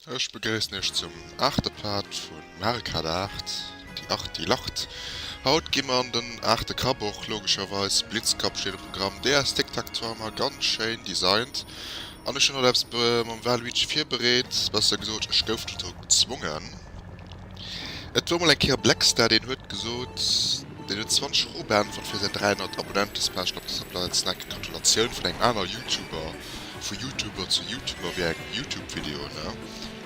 Ech begréissen Iech zum aachte Part vu Marikad 8, Die Acht, die lacht. Haut gi mer an den aachte Kapp, och logescherweis. Blitzkapp steet um Programm. DS Tic Tac Toe hu mer ganz schéin designt. An ech hunn haut eppes mam Waluigi virbereet, besser gesot, ech gouf dozou gezwongen. Et wor mol eng Kéier Blackstar deen huet gesot, deen huet 20 Euro beäntwert fir säin 300 Abonnentespäschel op der Subplanet Snack. Gratulatioun vun engem aner Youtuber, vu Youtuber zu Youtuber wéi eng Youtube Video ne?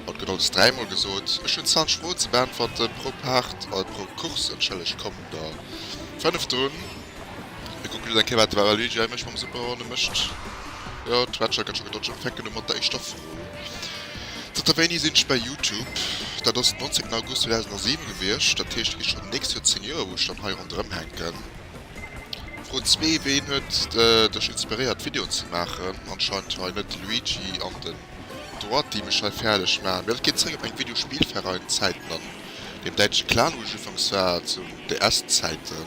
Haut gëtt alles dräi mol gesot. Ech hunn 20 Euro ze beäntwerte pro Part, pro Course entschëllegt, kommen der 5 drun. Mir kucken just eng Kéier wat de Waluigi hei mécht mam Superhorn. E mécht, jo d'Ratcher gëtt scho gedodged an fänken u mat der éischter Fro ze. Zanter wéini sinn ech bei Youtube? Dat ass den 19 August 2007 gewiescht, dat heescht et gi schonn d'nächst Joer 10 Joer wou ech dann hei ronderëm hänken. Fro 2, ween huet dech inspiréiert d'Videoen ze maachen? Anscheinend hei net de Luigi an den Droit déi mech hei fäerdeg maachen, mee dat geet zréck op eng Video Spielverein Zäiten an. Deen däitsche Clan, wou ech ufanks war, zu DS-Zäiten.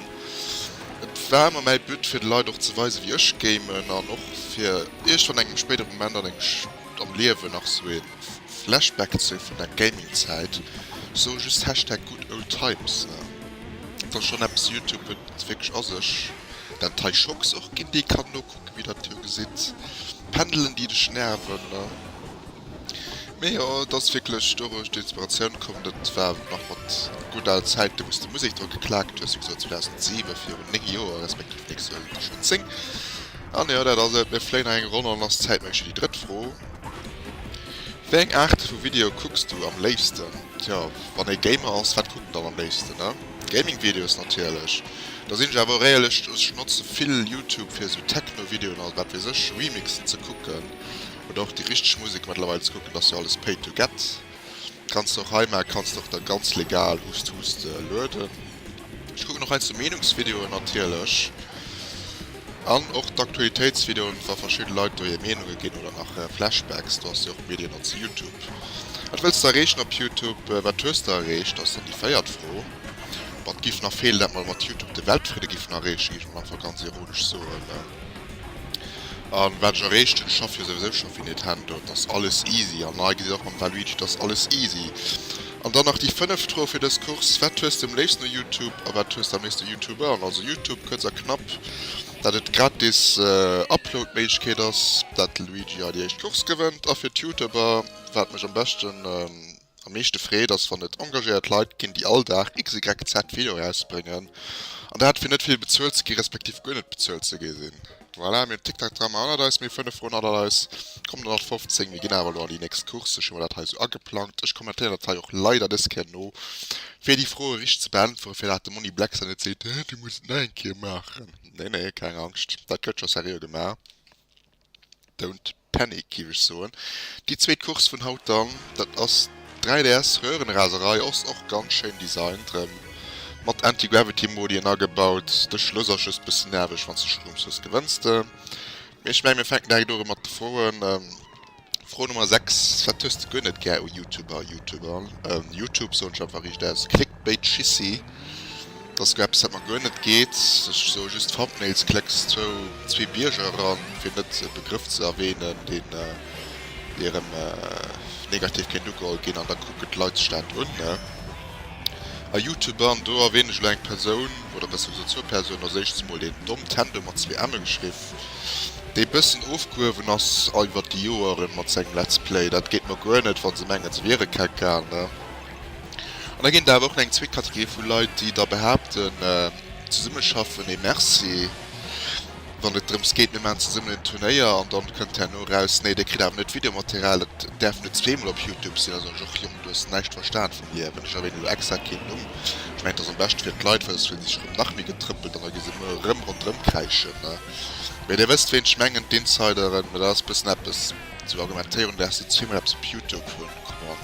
Et war ëmmer mäi But, fir de Leit och ze weisen, wéi ech gamen, an och fir iergendwann an engem spéidere Moment an engem am Liewen nach esou ee Flashback ze hu vun der Gaming-Zäit. Ech soe just Hashtag Good Old Times. Et ass schonn eppes, Youtube huet wierklech a sech. Den Taishox och ginn, dee kann nokucken, wéi Der et jo gesitt. Pendelen, déi dech nerven. Mee jo, et ass wierklech doduerch d'Inspiratioun komm, dat war nach mat gudd al Zäiten, wou s de Musek dru geklaakt hues, wéi gesot 2007, virun 9 Joer, respektiv nächst Joer sinn et der schonn 10. An jo, dat ass et, mir fléien hei eng Ronn an ass zäitméiglech fir déi drëtt Fro, Wéi eng Aart vu Video kucks du am léifsten? Tjo, wann ee Gamer ass, wat kuckt en dann am léifsten, ne? Gaming-Videos natierlech. Da sinn ech awer och éierlech, ech notze vill Youtube fir esou Techno-Videoen a wat weess ech, Remixen ze kucken. oder och déi richteg Musek mettlerweil ze kucken ass jo alles pay to get kanns de och hei maa kanns de och da ganz legal hust hust lueden. Ech kucken och heiansdo Meenungsvideoen natierlech an och d'Aktualitéitsvideoen wa verschidde Leit do hir Meenunge ginn oder nach Flashbacks do ass jo och Medien an zu Youtube. Wat wëlls de erreechen op Youtube? Wat hues de erreecht ass dann déi véiert Fro. Wat giff nach feelen dat mer mat Youtube de Weltfridde giffen erreechen giff ech mol einfach ganz ironesch soen. An wat ech erreecht hunn, ech schaff jo souwisou scho fir Nintendo, et ass alles easy an hei gesitt der och mam Waluigi, et ass alles easy. An dann nach déi fënneft Fro fir dës Course, wat hues de am léifsten u Youtube a wat hues de am léifsten u Youtubern? Also Youtube, kuerz a knapp, dat et gratis Upload-Méiglechkeet ass, dat de Luigi hei déi éischt Course gewënnt a fir d'Youtuber, wat mech am beschten. Am meeschte freet ass wann et engagéiert Leit ginn déi all Dag XYZ Video erausbréngen an dat fir net vill bezuelt ze gi respektiv guer net bezuelt ze gi sinn. Voilà mir hunn TikTok dran, mer hannert eis, mir 5 Wochen hannert eis, kommen der nach 15, mir ginn awer elo an déi nächst Course, ech hu mer dat hei esou ageplangt, ech kommentéieren dat hei och leider des Kéier no fir déi Froe richteg ze beäntweren, fir dat de Monni Blackstar net seet, Hä du muss et nach eng Kéier maachen. Nee nee keng Angscht, dat gëtt scho seriö gemaach. Don't panic gief ech soen. Déi zweet Course vun haut dann, dat ass d'RS Röhrenraserei, ass och ganz schéin designt, rem mat Anti-Gravity Modien agebaut. De Schluss ass just bëssen nerveg, wanns de Stroom hues gewënns de. Mee ech mengen mir fänken direkt un mat de Froen. Fro Nummer 6, wat hues de guer net gär u Youtuber, Youtuber, Youtube soen ech einfach riicht aus, Clickbaitschissi? Dass do eppes wat mer guer net geet. Ech soe just Thumbnails klecks zwou zwee Bierger eran, fir net e Begrëff ze erwähnen deen erem negativ kéint ugeholl ginn an da kucken d'Leit sech dat un, ne? A Youtuber, an do erwähnen ech elo eng Persoun, oder besser gesot zwou Persounen, als éischts mol den Domtendo mat zwee emme geschriff, dee bëssen ofgehuewen ass iwwert déi Joeren mat sengem Let's Play. Dat geet mer guer net, wa se mengen se wiere Kekal, ne? An da ginn et awer och nach eng zweet Kategorie vu Leit, déi da behaapten, Zesummeschaffen, nee Merci, wann et drëms geet, mir maachen zesummen en Turnéier. An dann kënnt herno eraus, Nee, dir kritt awer net d'Videomaterial, et däerf net zweemol op Youtube sinn. Da soen ech och, Jong, du hues näischt verstan vum Liewen, ech erwänen elo extra keen Numm, ech mengen et ass am beschten fir d'Leit, well soss fillen si sech erëm nach méi getrëppelt an da gi se muer erëm ronderëm kräischen. Mee dir wësst ween ech mengen, d'Insideren, mä dat ass e bëssen eppes, esou Argumentéierungen, wéi häss du zweemol eppes op Youtube hunn. Bon,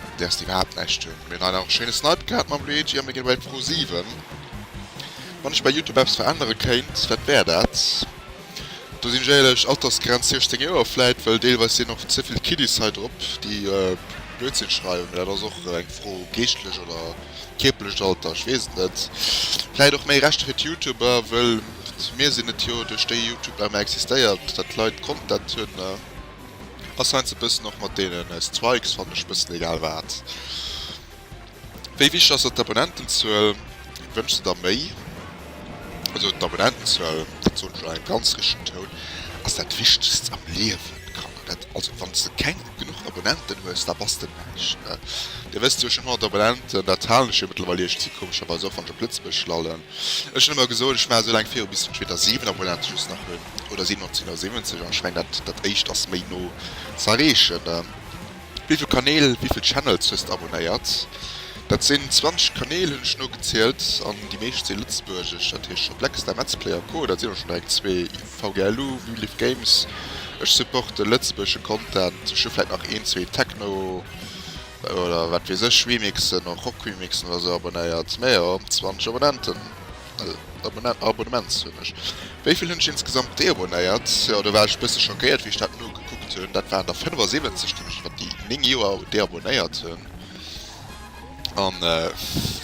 mat däers de iwwerhaapt näischt hun. Hun mir leider och e schéine Snipe gehat mam Luigi a mir gin bei d'Fro 7. Wann ech bei Youtube eppes verännere kéint, wat wär dat? Do sin ech éierlech, Altersgrenz 16 Joer vläit, well deelweis sin och ze vill Kiddies hei drop, déi Blödsinn schreiwen. Mee dat ass och eng Fro, geeschtlecht oder kierperlecht Alter, ech weess et net. Vläit och méi Rechter fir d'Youtuber, wëll mir sin et jo duerch déi Youtube nach ëmmer existéiert, dat d'Leit Content hun. Ass heinsdo bessen och mat deenen Strikes fannen ech bessen egal waat. Wéi wichteg ass der d'Abonnentenzuel? Wënschs de der méi? Also d'Abonnentenzuel, dat soen ech elo engem ganz richtegen Toun, ass dat wichtegst am Liewen Kanner. Dat also wanns de keng genuch Abonnenten hues, da bass de näischt ne. Dir wësst jo ech hunn 100 Abonnenten, dat halen ech jo mëttlerweil iergzi komescherweis och wann ech op Lëtzebuerg lallen. Ech hunn ëmmer gesot ech maachen esou laang viru bis ech entweder 7 Abonnenten just nach hunn oder 1770 an schein dat dat eischt ass méi no ze erreechen. Wivill Kanäl, wivill Channels hues de abonnéiert? Dat sinn 20 Kanäl hunn ech no gezielt an déi meescht si lëtzebuergesch, dat heescht scho Blackstar, Metzplay a co. Dat sinn och schon direkt zwee. VGLU, Vliv Games, ech supporte lëtzebuergesche Content, ech hu vläit nach een zwee Techno oder wat weess ech Remixen, och Rock Remixen oder sou abonnéiert. Mä jo, 20 Abonnenten. Abonnements hunn ech. Wéi vill hunn ech insgesamt deabonéiert? Jo, do war ech e bësse schockéiert, wéi ech dat nogekuckt hunn. Dat waren der 75, deenen ech iwwer déi 9 Joer deabonéiert hunn. A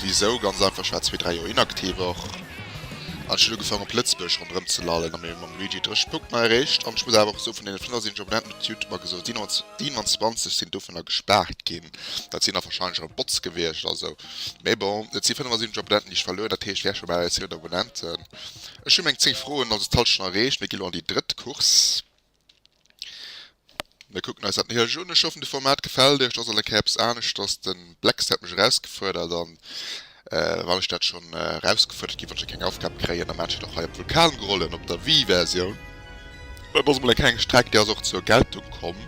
wisou? Ganz einfach, ech war zwee, dräi Joer inaktiv och. An ech hunn ugefaangen, op Lëtzebuerg ronderëm ze lallen a mir mam Luigi de richtege Punkt mei erreecht. An ech muss awer och soen, vun deene 75 Abonnenten huet Youtube mer gesot, 27 sinn dovunner gespaart ginn. Dat sinn da wahrscheinlech erëm Bots gewiescht, also. Mee bon, et si 75 Abonnenten, déi ech verluer hunn, dat heescht, wär scho bal eis 100 Abonnenten. Ech hu meng 10 Froen also d'Hallschent schonn erreecht. Mir gi lo an déi drëtt Course. Mir kucken eis dat néierlech un. Ech hoffen, de Format gefält iech. Et ass alt eng Kéier eppes aneschters. De Blex hat mech erausgefuerdert an wann ech dat schonn erausgefuerdert gi wollt ech jo keng Aufgab kréien, da maan ech dat och hei op Vulkan gerollen op der Wii-Versioun. Et ass emol eng kleng Streck, déi ass och zur Geltung komm.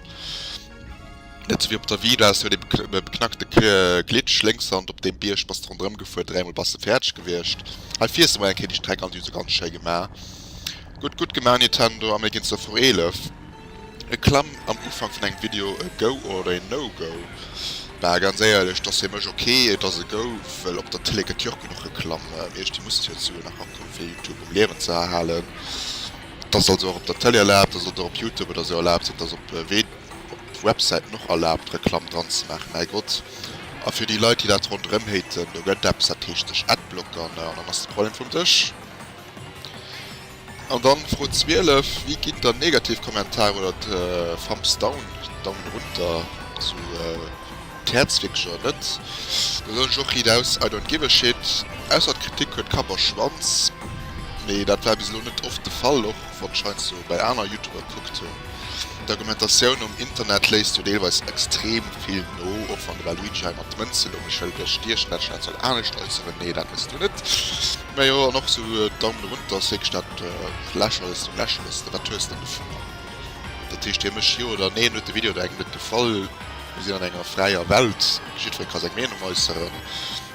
Net sou wéi op der Vila, se huet ee beknackte Glitch, Lénkshand op deem Bierg, bass de ronderëm gefuer, dräimol bass de fäerdeg gewiescht. Hei fiers de mol eng Kéier déi Streck an, déi hu se ganz schéi gema. Gutt, gutt gema Nintendo, a mir ginn zur Fro 11. E Klamm am Ufank vun engem Video e Go oder een No Go? Bah ganz éierlech, et ass fir mech ok, et ass e Go, well op der Tëlee gëtt jo och genuch geklamm, mee ech déi Musketiounen nach ankucken fir Youtube um Liewen ze erhalen. Et ass also och op der Tëlee erlaabt, et ass och op Youtube oder esou erlaabt, et ass op Websäiten och erlaabt Reklamm dran ze maachen, mäigott. A fir déi Leit déi dat ronderëm haten, do gëtt eppes dat heescht sech adblockern an dann ass de Problem vum Dësch. An dann Fro 12, wéi ginn dann negativ Kommentaren oder Thumbs down, Daumen runter, esou. D'Häerz wierkt jo net, do soen ech och Riit aus, I don't give a shit. Ausser d'Kritik huet Kapp a Schwanz, mee dat war bis elo net oft de Fall, och wann ech heiansdo bei aner Youtuber gekuckt hunn. D'Argumentatioun um Internet léisst jo deelweis extrem vill no, och wann de Waluigi hei mat Mënze lo mech hëlt, wéi ech Dir schwätzen, dat soll anescht äusseren, nee dat mëss Du net, mä jo, an och sou Daumen runter ass wierklech dat lächerlechst vum lächerlechsten, wat hues De dovunner? Dat heescht, Dir mécht Jo oder Neen, huet de Video der engem net gefall? Mir sinn an enger fräier Welt, jiddweree ka seng Meenung äusseren.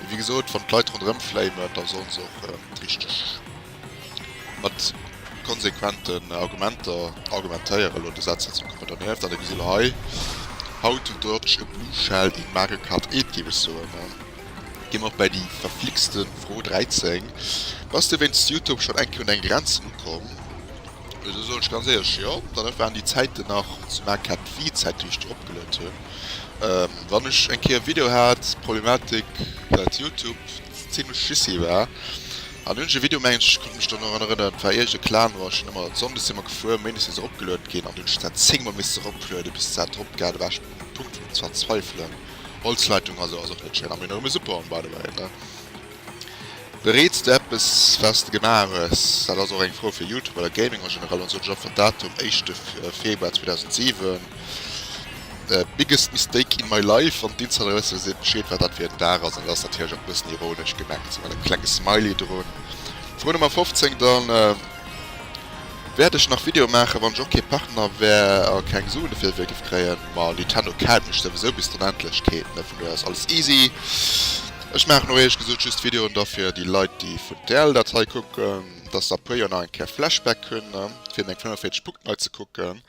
Mee wéi gesot, wann d'Leit ronderëm flamen, da solle se och richteg mat konsequenten Argumenter argumentéieren. Elo de Saz hei zum Copper donervt, an da gesi mer hei, How to dodge a blue shell in Mario Kart 8, géif ech soen. A gi mer och bäi déi verflixte Fro 13, Bass de wéinst Youtube schonn eng Kéier un eng Grenzen ukomm? Jo, do soen ech ganz éierlech jo. Dann waren déi Zäiten nach zu Maart kat d'Vzäit déi ech do opgeluet hunn. Wann ech eng Kéier e Video hat, Problematik dat Youtube zimlech jissi war an hunn ech e Video mengen ech ech konnt mech dann erun erënneren et war iergend e Clan war ech hunn ëmmer Sonndes si mer gefuer Méindes ass e ropgeluet ginn an du hues dat 10 mol misste roplueden bis dat drop gaer do war ech um Punkt vum Verzweifelen. Holzleitung a sou ass och net schéin a méi no ëmmer super by the way ne. Bereets de eppes waats de gemaach hues? Daat ass och eng Fro fir Youtube oder Gaming en generell, an soot ech och fir Datum éischte Februar 2007 Biggest mistake in my life an d'Insiderwësse seet bescheed waat daat fir en Daag ass an et ass natierlech och e bëssen ironesch gemengt mat engem klenge smiley drun. Fro Nummer 15 dann Wärt ech nach Video maachen wann ech och kee Partner wär a keng Suen dofir géif kréien? Ma Nintendo kennt mech souwisou bis d'Onendlechkeet, vun dohier ass alles easy. Ech maachen och ehrlech gesoot just Videoen derfir déi Leit déi vun TL dat hei kucken dass se a puer Joer nach eng Kéier Flashback hunn fir meng 45 Punkten hei ze kucken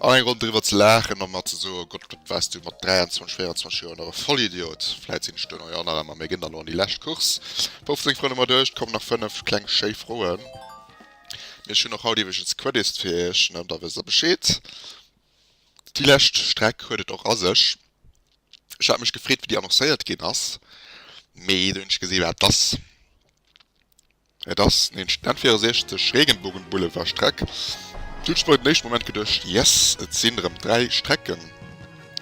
an eng Ronn driwwer ze laachen an mer ze soen, Gott wat waars du mat 23, 24 Joer nach e Vollidiot. Vläit sinn ech duerno jo och nach ëmmer, mee ginn der lo an déi lescht Course 15 Froen hu mer duerch, et kommen nach 5 kleng schéi Froen, mee ech hunn och haut iwwregens Queddisst fir iech, da wësst der Bescheed. Déi lescht Streck huet et och a sech. Ech hat mech gefreet wéi déi annoncéiert ginn ass, mee dunn hunn ech gesinn wat et ass. Et ass nämlech den N64 Regenbogenboulevard Streck. Do hunn ech mer den éischte Moment geduecht, yes, et sinn erëm 3 Strecken,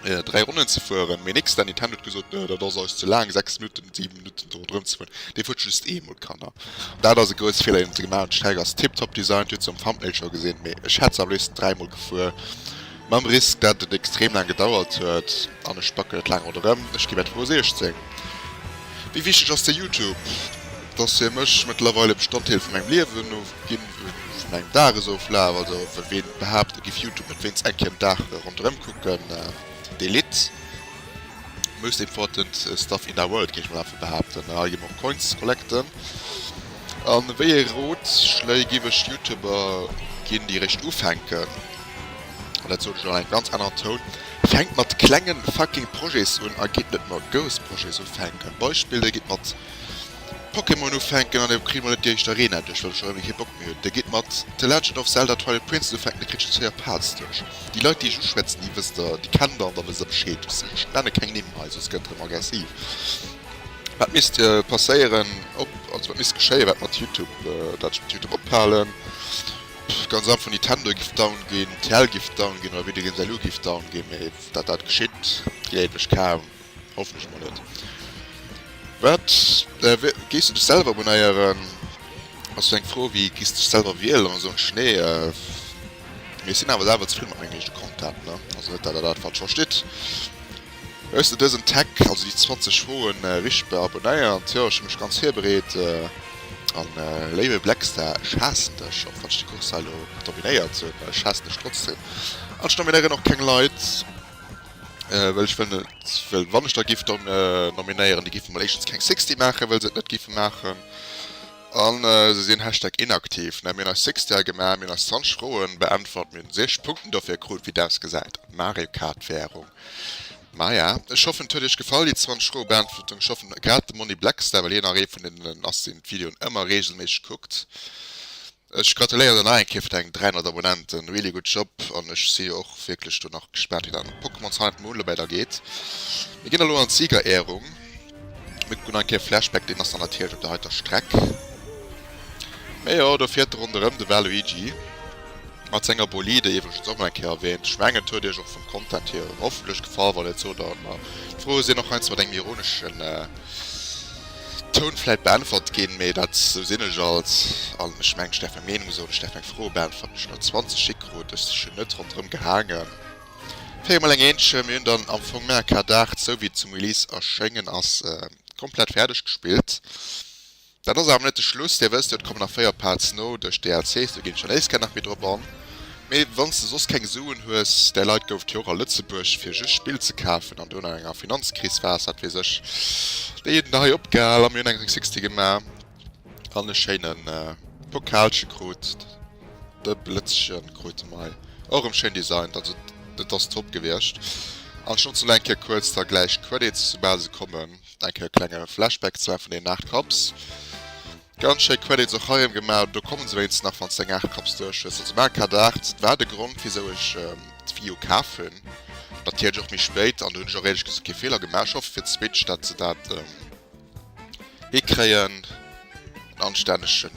3 Ronnen ze fueren, mee nix, den Nintendo huet gesot, nö, dat ass eis ze laang, 6 Minutten, 7 Minutten do ronderëm ze fueren, dee fuert just eemol. Kanner, dat ass e grousse Feeler deen se gemaach hunn. D'Streck ass tiptop designt, huet se um Thumbnail scho gesinn, mee ech hätt se am léifsten 3 mol gefuer. Mam Risk, dat et extrem laang gedauert huet, an ech backen et laang ronderëm, ech ginn etwa 16. Wéi wichteg ass dir Youtube? Dass hie mech mëttlerweil e Bestanddeel vu mengem Liewen no ginn huet, vu mengem Dagesoflaf. Also ween behaapt e giff Youtube net wéinst eng Kéier den Dag ronderëm kucken, dee litt. Most important stuff in da world géif ech mol einfach behaapten, a allgemong Coins collecten. An wéi ee Rotschléi giff ech Youtuber ginn déi eréischt ufänken? an dat soot ech an engem ganz aneren Toun, fänkt mat klengen fucking Projets un a geet net mat grouss Projets ufänken. Beispill, Dir gitt mat Pokémon ufänken an Dir kritt emol net déi éischt Arena duerch, well Der schonn ewéi kee Bock méi hutt. Dir gitt mat The Legend of Zelda, Twilight Princess ufänken, Dir kritt just 4 Parts duerch. Déi Leit, déi ech uschwätzen, déi wësst Der, déi kennt Der an da wësst Der Bescheed. Ech nenne keng Nimm hei, soss gëtt erëm aggressiv. Wat misst passéieren, op, also wat misst geschéien, wat mat Youtube, dat ech mat Youtube ophalen? Pff ganz einfach Nitendo giff down ginn, TL giff down ginn oder Video Games LU giff down ginn, mee dat dat geschitt gleewen ech kaum, hoffentlech mol net. Wat wéi géiss de dech selwer abonéieren? Ass jo eng Fro wéi giss dech selwer wielen an esou en Schnee. Mee ech sinn awer selwer zefridden mat mengem eegene Content ne, also net dat der dat falsch verstitt. Hues de dësen Tag, also déi 20 Froen, richteg beabonnéiert? Jo, ech hu mech ganz virbereet. A léiwe Blackstar, ech haassen dech, och wann ech déi Course hei elo dominéiert hunn. Ech haassen dech trotzdem. An ech nominéieren och keng Leit, well ech wëll net, well wann ech der giff nominéieren, déi giffe mol éischtens keng Sixty maachen, well se et net giffe maachen. A se sinn Hashtag inaktiv. Mä mir hunn eis Sixty hei gemaach, mir hunn eis 20 Froen beäntwert, mir hunn 6 Punkten dofir krut, wéi dest gesäit, Mario Kart Währung. Maja ech hoffen et huet iech gefall déi 20 froe beäntwerten. Ech hoffen grad dem Monni Blackstar, well hien nach ee vun deenen ass deen d'Videoen ëmmer reegelméisseg kuckt. Ech gratuléieren der nach eng Kéier fir deng 300 Abonnenten, really good job an ech si jo och wierklech do nach gespaant wéi dat mat Pokémon Sun and Moon lo wäidergeet. Mir ginn elo an d'Siegerehrung. Mir kucken nach eng Kéier Flashback, deen ass dann natierlech op der heiter Streck. Mee jo, do fiert ronderëm de Waluigi mat senger Bolide, iwwregens och nach eng Kéier erwähnt. Ech mengen, et huet iech och vum Content hier hoffentlech gefall, wann net sot der et mer. D'Fro ass hien och heiansdo mat engem ironeschen Toun vläit beäntwert ginn, mee dat, esou sinn ech alt, an ech mengen, et ass däerf eng Meenung soen, ech däerf eng Fro beäntweren, ech hunn der 20 Schick krut, ech sinn net ronderëm gehaangen. Fir emol eng Eenzche, mir hunn dann am Fong Mär Ka Dart, sou wéi et zum Release erschéngen ass, komplett fäerdeg gespillt. Dat ass awer net de Schluss, Dir wësst jo, et kommen nach 4 Parts no duerch DLCs, do ginn ech dann éischt gär nach méi drop an. Mee wann s de soss keng Suen hues, där Leit gouf et jo och a Lëtzebuerg, fir just Spill ze kafen an do no enger Finanzkris, war s, wat weess ech, déi hunn der hei opgehal a mir hunn eng 360 gemaach. An e schéinen Pokalchen krut de Blëtzchen krut mei och rem schéin designt, also dat ass top gewierscht an ech notzen elo eng Kéier kuerz da gläich d'Credits soubal se kommen eng Kéier e klenge Flashback zwar vun den 8 Cups. Ganz schéi Credits och hei rem gemaach, do kommen se wéinstens nach wann s de eng 8 Cups duerch hues, also Mario Kart 8 war de Grond wisou ech d'Wii U kaf hunn, natierlech och méi spéit an do hunn ech och éierlech gesot kee Feeler gemaach, ech hoffe fir d'Switch dat se dat Hie kréien en anstännege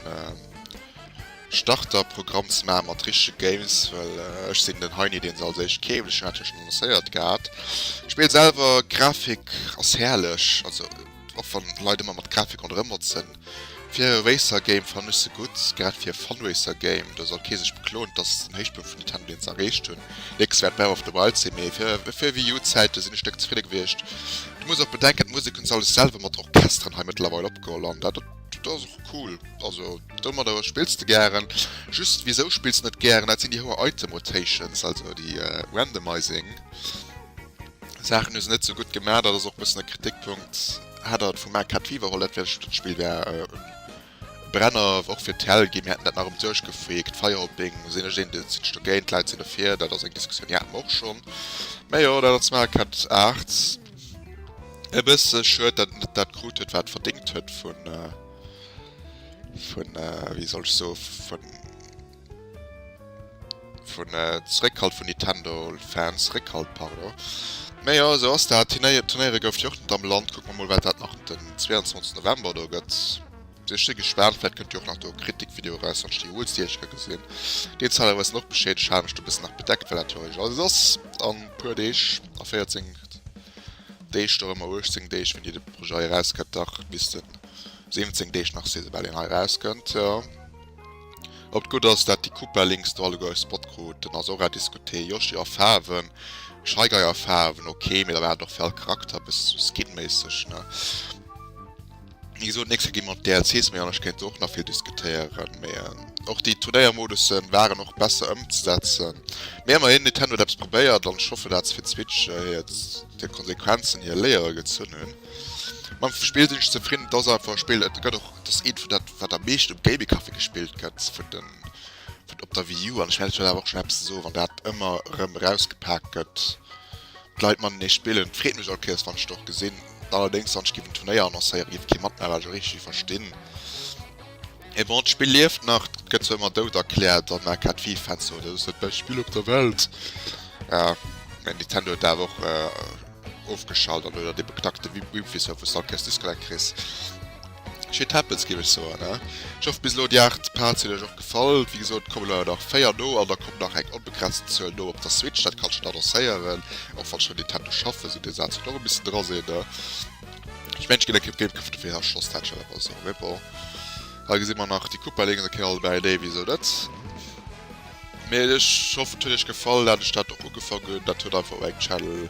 Starter Programm ze maache mat richtege Games, well ech sinn den Heini deen se als éischt keeft, ech hat jo schonn annoncéiert gehat. D'Spill selwer, Grafik ass herrlech, also och wann Leit ëmmer mat Grafik ronderëm motzen, Fir e Racer Game fannen ech se gutt, grad fir e Fun Racer Game, do soll kee sech bekloen dass se den Héichpunkt vun Nintendo Dienst erreecht hunn. Nächstes wäert Breath of the Wild sinn, mee fir fir Wii U Zäite sinn ech Stéck zefridde gewiescht. Du muss och bedenken d'Musek hunn se alles selwer mat Orchesteren hei mëttlerweil opgeholl an dat dat ass och cool. Also domadder spills de gären, just wisou spills de net gären, dat sinn déi houer Item Rotations, also déi Randomizing. Saachen hu se net sou gutt gemaach, dat ass och bëssen e Kritikpunkt. Hat der et vum Arcade Fever holl, dat wär just, dat Spill wär e Brenner och fir d'Hell ginn, mir hätten dat nach erëm duerchgefreakt. Firehopping sinn ech een, dat sinn ech dogéint, d'Leit sinn dofir, dat ass eng Diskussioun, déi haten mer och schonn. Mä jo, dat ass zum Arcade 8 e bësse schued, datt et net dat krut huet, wat et verdéngt huet vun, vun, wéi soll ech soen, vun. Vun Zréckhalt vun Nintendo-Fans, Réckhalt, pardon. Mä jo, esou ass dat. D'Turnéier, d'Turnéiere goufen jo och net am Land. Kucke mer mol, wat dat nach den 22 November do gëtt. Ech si gespaant, vläicht kënnt jo och nach do e Kritik-Video eraus, wann ech déi Uelst Jeecher gesinn. Deen Site awer ass dann och beschädegt, hat mech do e bëssen nach bedeckt, well dat jo eigentlech alles ass a puer Deeg, a 14 Deeg, do erëm a 18 Deeg, wéini de Projet hei erauskënnt, dach bis de 17 Deeg nach, si se bal, een hei erauskënnt, jo. Op d'Gutt ass dat déi Coupe links do alleguer e Spot krut, den ass och à discuter. Yoshi a Faarwen, Shy Guy a Faarwen ok, mee da war et och fir all Charakter e bësse sou skinméisseg, ne? Wéi gesot, d'nächst Kéier gi mer op d'DLCs méi an, ech kéint do och nach vill diskutéieren, mee och déi Turnéiermodussen waren och besser ëmzesetzen. Mee ëmmerhin, Nintendo huet eppes probéiert an ech hoffe dat se fir d'Switch hiert Konsequenzen hir Léiere gezunn hunn. Mam Spill sinn ech zefridden, et ass einfach e Spill, et gëtt och, et ass eent vun dat, wat am meeschten um Gaming Café gespillt gëtt vun den, vun op der Wii U. An ech wäert awer och schonn eppes soen, wann dat ëmmer erëm erausgepak gëtt, d'Leit matenee spillen, et freet mech all Kéiers, wann ech et och gesinn. Allerdéngs, wann ech géif en Turnéier annoncéieren, géif et kee matmaachen, well ech och richteg verstinn, mee bon, d'Spill lieft nach, et gëtt zwar ëmmer dout erkläert an aka d'Wii-Fans soen, dat ass dat bescht Spill op der Welt, mee Nintendo huet awer och, Ofgeschalt an oder de beknackte Wimfishow vu Stalkers Disconnect kriss. Shit happens géif ech soen ne. Ech hoff bis elo déi 8 Parts hunn iech och gefall. Wéi gesot et kommen awer nach 4 no an da kommt nach eng onbegrenzten Zuel no op der Switch, dat kann ech schonn annoncéieren. Och wann schonn Nintendo schaffen, sou dee Saz huet och e bëssen dra sinn ne. Ech mengen ech ginn e Kéip Gamecube dofir a Schloss dat schonn awer esou, mee bon. Hei gesi mer nach déi Koopa Links, da kënne mer alleguer eng Idee wéi esou net. Mee ech hoffen et huet iech gefall dat ech dat och ugefangen hunn. Dat huet einfach eng Channel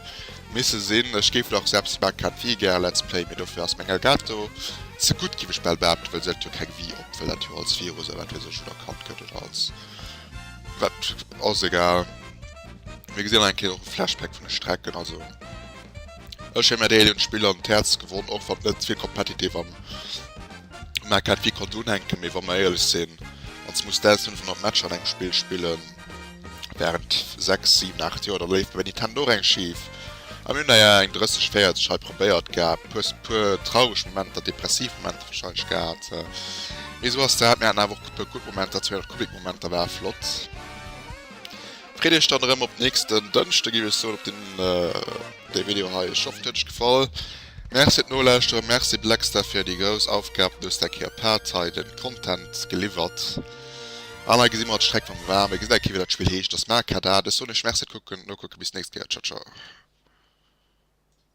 misse sinn. Ech géif nach selbst maach ken Wii gär Let's Play mee dofir ass meng Elgato ze gutt giff ech bal behaapten well si hat jo keng Wii op well dat jo als Virus oder wat weess ech un erkannt gëtt oder als wat ass egal. Mir gesinn nach eng Kéier och e Flashback vun de Strecken also. Ech hun mär déi éilen Spiller un d'Häerz gewonn, och wann net fir competitive am um Arcade vill konnt unhänken, mee wa mer éierlech sin, ons muss 1500 Matcher an engem Spill spillen während 6, 7, 8 Joer, da léif bei Nintendo och eng schief. A mir hun der jo eng 30, 40 hei probéiert gehat, puer traureg Momenter, depressiv Momenter wahrscheinlech gehat, mee sou ass dat, mir haten awer och puer gutt Momenter, 200 Kubik Momenter ware flott. Freet iech dann erëm op nächsten Dënschde géif ech soen, op deen dee Video hei iech hoffentlech gefall. Merci fir d'Nolauschteren, Merci Blackstar fir déi grouss Aufgab, du hues däi Kéier paart hei den Content geliwwert an hei gesi mer d'Streck vum War. Mir gesi däi Kéier wéi dat Spill heescht, dass Markadar. Dech soen ech Merci fir d'Kucken, Nokucken, bis nächst Kéier, Ciao ciao.